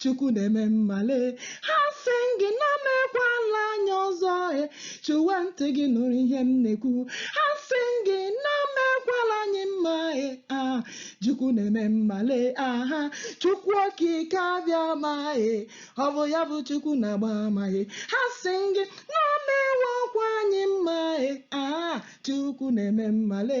chukwu na-eme mma le ha sị gị na o mekwala anyị ọzọ e chụwa ntị gị nụrụ ihe m na-ekwu ha sị gị na o mekwala anyị mma e a chukwu na-eme mma le aha chukwu okike abịama e ọ bụ ya bụ chukwu na-agba ama e ha sị gị na o mewokwa anyị mma e a chukwu na-eme mma le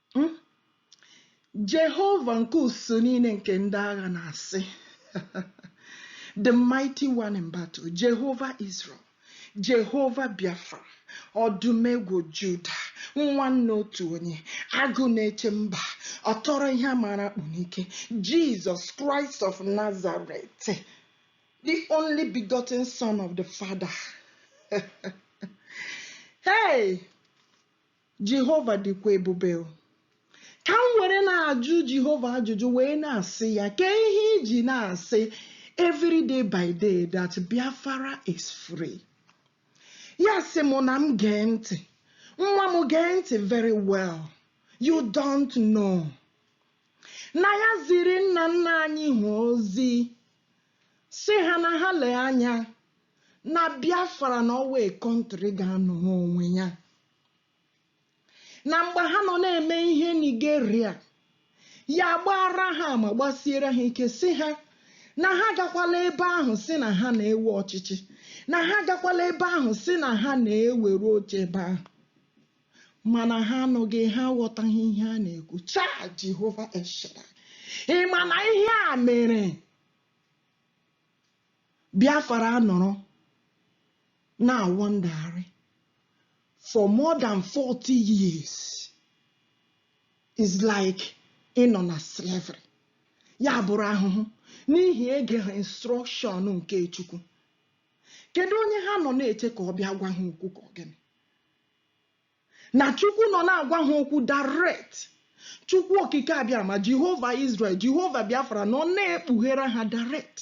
Hmm? Jehova nke usuu niile nke ndị agha na-asị the mighty one in battle Jehova Israel Jehova Biafra ọdụmegwu Juda nwanne otu onye agụ na-eche mba ọtọrọ ihe a maara akpụ n'ike Jizọs Kraịst of Nazareth the only begotten son of the Father hey Jehova dịkwa ebube. Ka m were na-ajụ Jehova ajụjụ wee na-asị ya, Kee ihe i ji na-asị every day by day that Biafra is free? Ya sị mụ na m gee ntị. Nwa m gee ntị very well. You don't know. Na ya ziri nna nna anyị ha ozi sị ha na ha lee anya na Biafra na our country ga-anọrọ onwe ya. na mgbe ha nọ na-eme ihe Nigeria ya gbaara ha ama gbasiere ha ike sị ha na ha gakwala ebe ahụ sị na ha na-ewe ọchịchị na ha gakwala ebe ahụ sị na ha na-ewere oche ebe ahụ mana ha anụghị ha aghọtaghị ihe a na-ekwu chaa Jehova Israel ị ma na ihe a mere Biafra anọrọ na-awọndagharị for more than 40 years is like ịnọ na slavery ya bụrụ ahụhụ n'ihi egeghị instruction nke Chukwu kedu onye ha nọ na-eche ka ọ bịa gwa ha okwu ka ọ gịnị Na Chukwu nọ na-agwa ha okwu direct. Chukwu Okike Abịama, Jehova Israel, Jehova Biafra nọ na-ekpughere ha direct.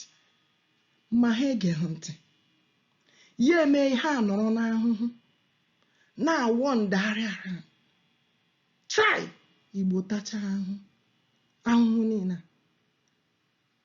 Ma ha egeghị ntị. Ya emee ha anọrọ n'ahụhụ, na-awọndagharị ara. Chai! Igbo tachaa ahụhụ. Ahụhụ niile a.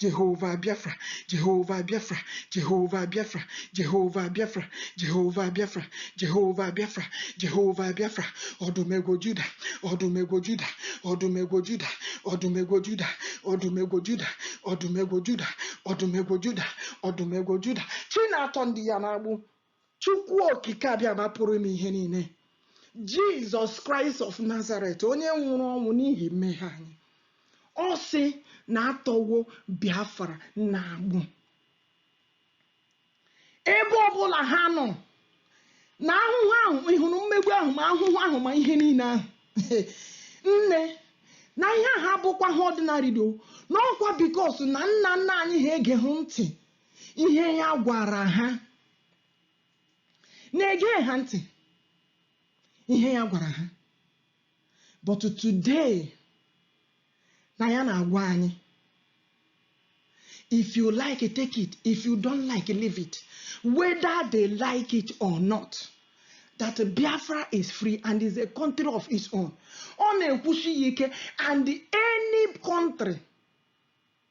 Jehova Biafra, Jehova Biafra, Jehova Biafra, Jehova Biafra, Jehova Biafra, Jehova Biafra, Jehova Biafra, ọdụmegwu Juda, ọdụmegwu Juda, ọdụmegwu Juda, ọdụmegwu Juda, ọdụmegwu Juda, ọdụmegwu Juda, ọdụmegwu Juda, ọdụmegwu Juda, chi na-atọ ndị ya n'agbụ Chukwu Okike Abịama Pụrụ Ime Ihe Niile, Jesus Christ of Nazareth, onye nwụrụ ọnwụ n'ihi mmehie anyị, ọ sị na atọwo Biafra n'agbụ. Ebe ọbụla ha nọ, na ahụhụ ahụ ị hụrụ mmegbu ahụ ma ahụhụ ahụ ma ihe niile ahụ nne na ihe ahụ abụkwa ha ordinary do na ọ kwa because na nna nna anyị ha egeghị ntị ihe ya gwara ha na egeghị ntị ihe ya gwara ha but today na ya na-agwa anyị if you like it take it if you don't like it leave it whether they like it or not that Biafra is free and is a country of its own ọ na-ekwusi ya ike and any country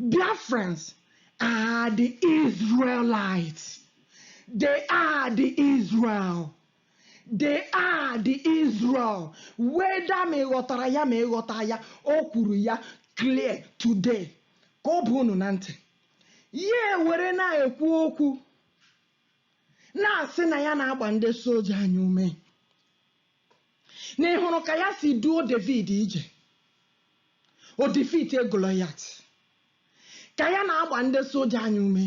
Biafrans are the Israelites. They are the Israel. They are the Israel. Whether ma ị ghọtara ya ma ị ghọta ya, o kwuru ya clear today ka ọ baa unu na ntị. Ya ewere na-ekwu okwu na-asị na ya na-agba ndị soja anyị ume. na ị hụrụ ka ya si duo David ije o defeatie Goliath ka ya na-agba ndị soja anyị ume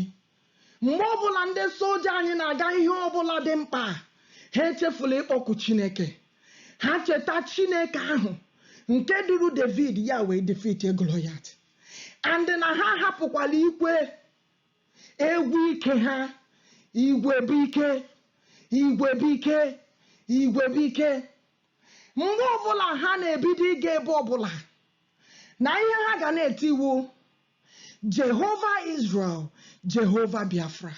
mgbe ọbụla ndị soja anyị na-aga ihe ọbụla dị mkpa ha echefula ịkpọku Chineke ha cheta Chineke ahụ nke duru David ya wee defeatie Goliath and na ha hapụkwala ikwe Egwu ike ha, igwe bụ ike, igwe bụ ike, igwe bụ ike. Mgbe ọbụla ha na-ebido ịga ebe ọbụla, na ihe ha ga na-eti wụ Jehova Izrel, Jehova Biafra.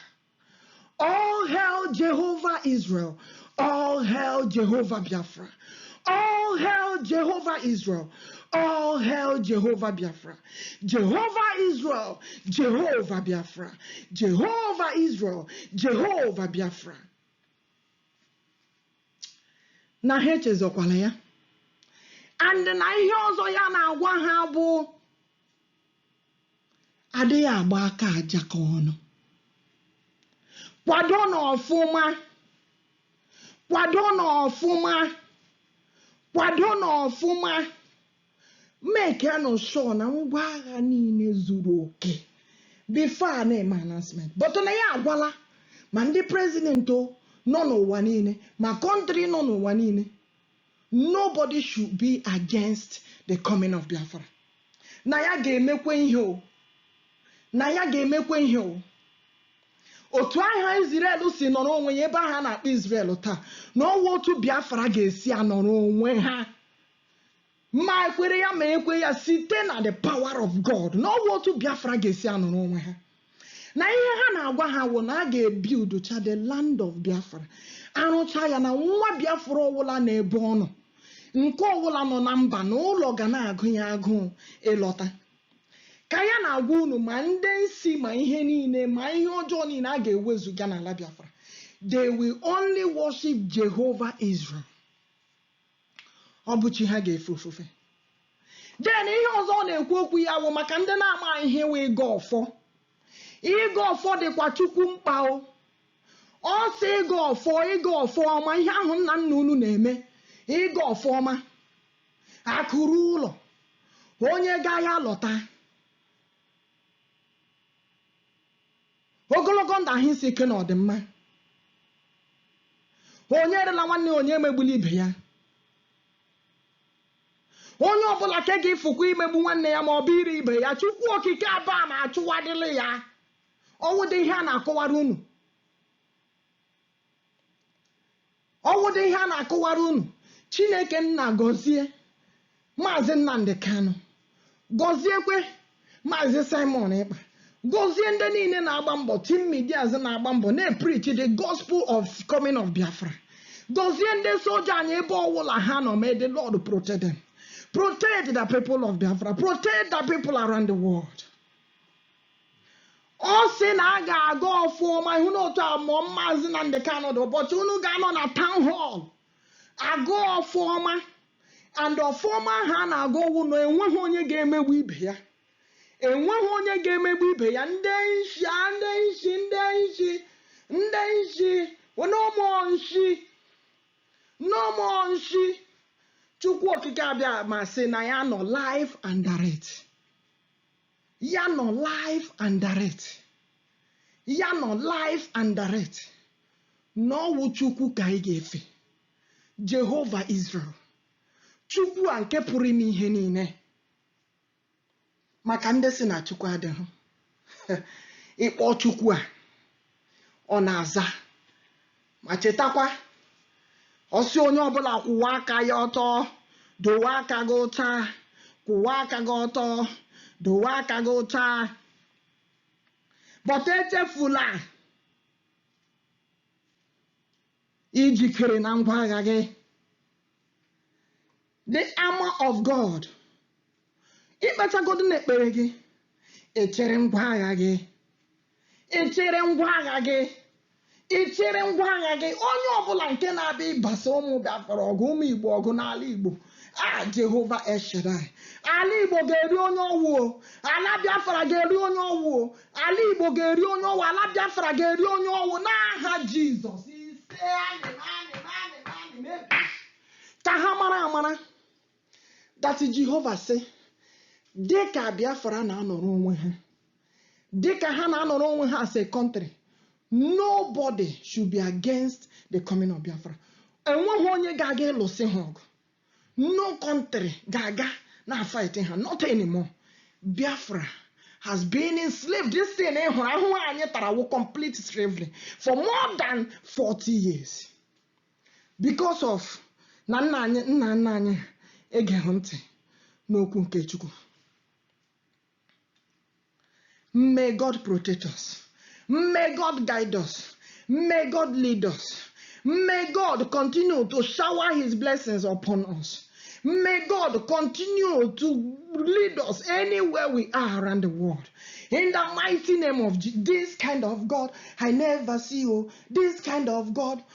All hail Jehovah Israel. All hail Jehovah Biafra. All hail Jehovah Israel. All hail Jehovah Biafra. Jehovah Israel, Jehovah Biafra. Jehovah Israel, Jehovah Biafra. Na ha echezọkwala ya. And na ihe ọzọ ya na-agwa ha bụ adịghị agba aka aja ka ọnụ kwadonụ ọfụma kwadonụ ọfụma kwadonụ ọfụma makenụ sure na ngwa agha niile zuru oke before a na-eme announcement but na ya agwala ma ndị president nọ n'ụwa niile ma country nọ n'ụwa niile Nobody should be against the coming of Biafra. Na ya ga-emekwe ihe o. Na ya ga-emekwe ihe o. Otu aha Izrel si nọrọ onwe ya ebe aha a na-akpọ Izrel taa na ọ wụ otu Biafra ga-esi anọrọ onwe ha ma ekwere ya ma ekwe ya site na the power of God na ọ wụ otu Biafra ga-esi anọrọ onwe ha. na ihe ha na-agwa ha wụ na a ga-ebuildcha the land of Biafra arụcha ya na nwa Biafra ọwụla na ebe ọ nọ nke ọwụla nọ na mba na ụlọ ga na-agụ ya agụụ ịlọta ka ya na-agwa unu ma ndị nsi ma ihe niile ma ihe ọjọọ niile a ga-ewezuga n'ala Biafra they will only worship Jehovah Israel ọ bụ chi ha ga-efe ofufe then ihe ọzọ ọ na-ekwu okwu ya wụ maka ndị na-amaghị ihe wụ ịgọ ọfọ ịgọ ọfọ dịkwa chukwu mkpa o ọ sị ịgọ ọfọ ịgọ ọfọ ọma ihe ahụ nna nna unu na-eme ịgọ ọfọ ọma akụ ruo ụlọ onye gaa ya lọta Ogologo ndụ ahụ isi ike na ọdịmma. Onye erela nwanne ya, onye emegbula ibe ya. Onye ọbụla ke ga-efukwa imegbu nwanne ya ma ọ bụ ire ibe ya, Chukwu Okike Abiama achụwadịla ya. Ọ wụdị ihe a na-akọwara unu. ọ wụdị ihe a na-akọwara unu chineke nna gọzie maazị nnamdi kanu gọziekwe maazị simon ekpa gọzie ndị niile na-agba mbọ team medias na-agba mbọ na-epreach the gospel of coming of biafra gọzie ndị soja anyị ebe ọwụla ha nọ may the lord protect them protect the people of biafra protect the people around the world ọ sị na a ga-agọ ọfọ ọma ihu na otu a mụọ maazị Nnamdi Kanu dị ụbọchị unu ga-anọ na town hall agọ ọfọ ọma and ọfọ ọma ha na-agọ ọ wụ na enweghị onye ga-emegbu ibe ya enweghị onye ga-emegbu ibe ya ndị nshi a, ndị nshi ndị nshi ndị nshi no more nshi no more nshi chukwu okike abiama sị na ya nọ live and direct ya nọ live and direct ya nọ live and direct na ọ wụ chukwu ka anyị ga-efe jehova israel chukwu a nke pụrụ ime ihe niile maka ndị sị na chukwu adịghị ị kpọọ chukwu a ọ na-aza ma chetakwa ọ sị onye ọbụla kwụwa aka ya ọtọ dowe aka gị ụcha kwụwa aka gị ọtọ dowe aka gị ụcha but echefula ijikere na ngwa agha gị the armor of God ikpechagodu n'ekpere gị echere ngwa agha gị echere ngwa agha gị ichere ngwa agha gị onye ọbụla nke na-abịa ịbasa ụmụ bịafọrọ ọgụ ụmụ igbo ọgụ n'ala igbo a jehova eshedai ala igbo ga-eri onye ọwụo ala biafra ga-eri onye ọwụo ala igbo ga-eri onye ọwụ ala biafra ga-eri onye ọwụ n'aha jizọs ise anyị anyị anyị anyị ka ha mara amara that jehova sị dị ka biafra na-anọrọ onwe ha dị ka ha na-anọrọ onwe ha as a country nobody should be against the coming of biafra enweghị onye ga-aga ịlụsị ha ọgụ no country ga-aga na fight ha not anymore biafra has been enslaved this thing ị hụrụ ahụhụ anyị tara wụ complete slavery for more than 40 years because of na nna anyị nna nna anyị egeghị ntị n'okwu nke chukwu may god protect us may god guide us may god lead us may god continue to shower his blessings upon us may god continue to lead us anywhere we are around the world in the mighty name of Je- this kind of god i never see oh this kind of god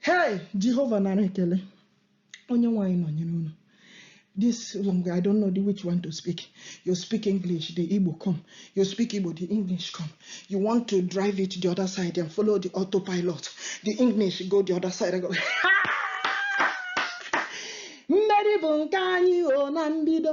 Hey, Jehova nara ekele. Onyenwe anyị nọnyere unu. This language, I don't know the which one to speak. You speak English, the Igbo come. You speak Igbo, the English come. You want to drive it the other side and follow the autopilot. The English go the other side and go. mmeri bụ nke anyị o na mbido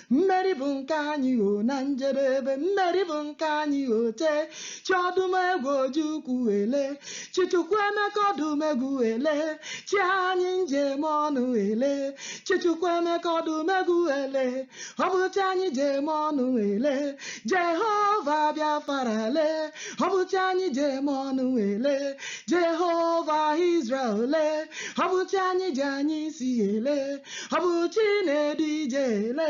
Mmeri bụ nke anyị o na njedebe, mmeri bụ nke anyị o tee. Chi Odumegwu Ojukwu ele, Chi Chukwuemeka Odumegwu ele, Chi anyị ji eme ọnụ ele, Chi Chukwuemeka Odumegwu ele, ọ bụ chi anyị ji eme ọnụ ele, Jehova Biafra ele, ọ bụ chi anyị ji eme ọnụ ele, Jehova Israel ele, ọ bụ chi anyị ji anya isi ele. ọ bụ chi na-edu ije ele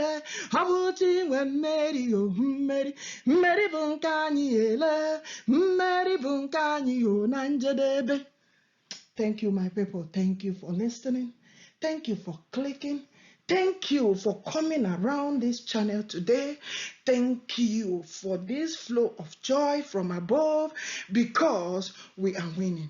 ọ bụ chi nwe mmeri o mmeri mmeri bụ nke anyị ele mmeri bụ nke anyị o na njedebe thank you my people thank you for listening thank you for clicking thank you for coming around this channel today thank you for this flow of joy from above because we are winning